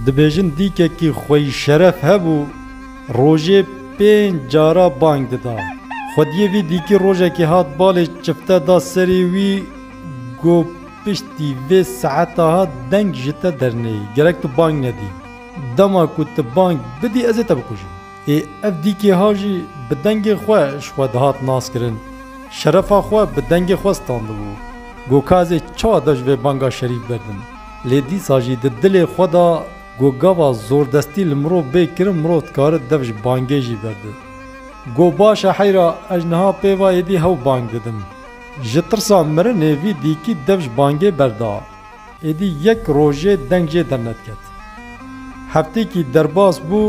Dibêjin dîkekî xweyîşeref hebû, rojê pênc cara bang dida. Xwediyê vî dîkî rojekê hat balê çifte da serî wî got, Piştî vê saeta ha deng ji te derneyê, gerek tu bang nedî. Dema ku tu bang bidî ez ê te bikujim. Ê ev dîkê ha jî bi dengê xwe ji xwe dihat naskirin. Şerefa xwe bi dengê xwe standibû. Got, Ka ez ê çawa dev ji vê banga şerîf berdim? Lê dîsa jî di dilê xwe de ku gava zordestî li mirov bê kirin mirov dikare dev ji bangê jî berde. Got baş e heyra ez niha pêva êdî hew bang didim. Ji tirsa mirinê vî dîkî dev ji bangê berda. Êdî yek rojê deng jê dernediket. Heftêkî derbas bû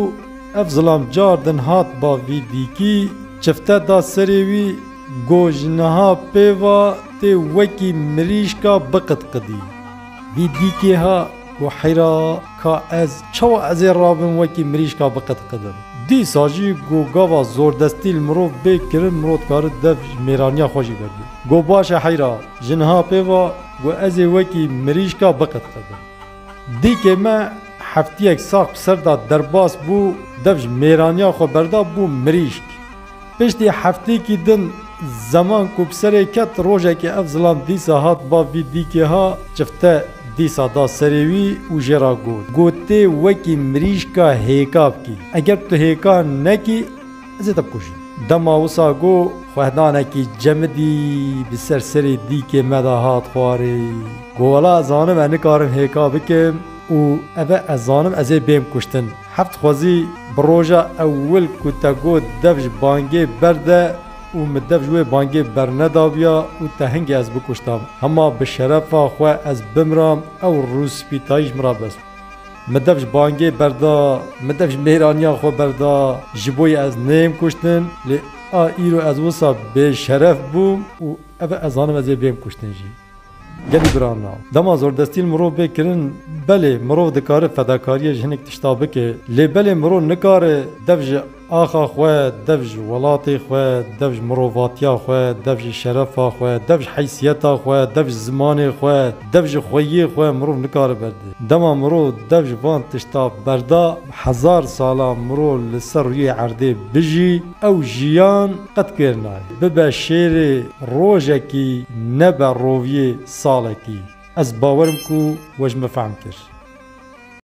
ev zilam car din hat ba vî dîkî çifte da serê wî got ji niha pêva tê wekî mirîşka biqitqidî. Vî dîkê ha ku heyra ka ez çawa ez ê rabim wekî mirîşka biqitqidim. Dîsa jî ku gava zordestî li mirov bê kirin mirov dikare dev ji mêraniya xwe jî wergire. Got baş e heyra ji niha pê va ku ez ê wekî mirîşka biqitqidim. Dîkê me heftiyek sax bi ser da derbas bû dev ji mêraniya xwe berda bû mirîşk. Piştî heftêkî din zeman ku bi serê ket rojekê ev zilam dîsa hat bav vî dîkê ha çifte dîsa da serê wî û jê ra got, Got tê wekî mirîşka hêka bikî. Eger tu hêka nekî ez ê te bikujîm. Dema wisa got xwehdanekî cemidî bi ser serê dîkê me de hat xwarê. Got wela ez zanim ez nikarim hêka bikim û eve ez zanim ez ê bêm kuştin. Heft xwezî bi roja ewil ku te got dev ji bangê berde û min dev ji wê bangê bernedabiya û te hingê ez bikuştam. Hema bi şerefa xwe ez bimiram ew rûspîtayîş min ra bist. Min dev ji bangê berda, min dev ji mêraniya xwe berda, ji bo yê ez neyêm kuştin, lê a îro ez wisa bêşeref bûm û ev e ez zanim ez ê bêm kuştin jî. Gelî birana, dema zordestiyên mirov bê kirin, belê mirov dikare fedakariyê ji hinek tişta bike, lê belê mirov nikare dev ji axa xwe, dev ji welatê xwe, dev ji mirovatiya xwe, dev ji şerefa xwe, dev ji heysiyeta xwe, dev ji zimanê xwe, dev ji xweyiyê xwe mirov nikare berde. Dema mirov dev ji van tişta berda, hezar sala mirov li ser rûyê erdê bijî, ew jiyan, Qet kêr nayê bibe şêrê rojekî nebe roviyê salekî. Ez bawer im ku we ji min fehm kir.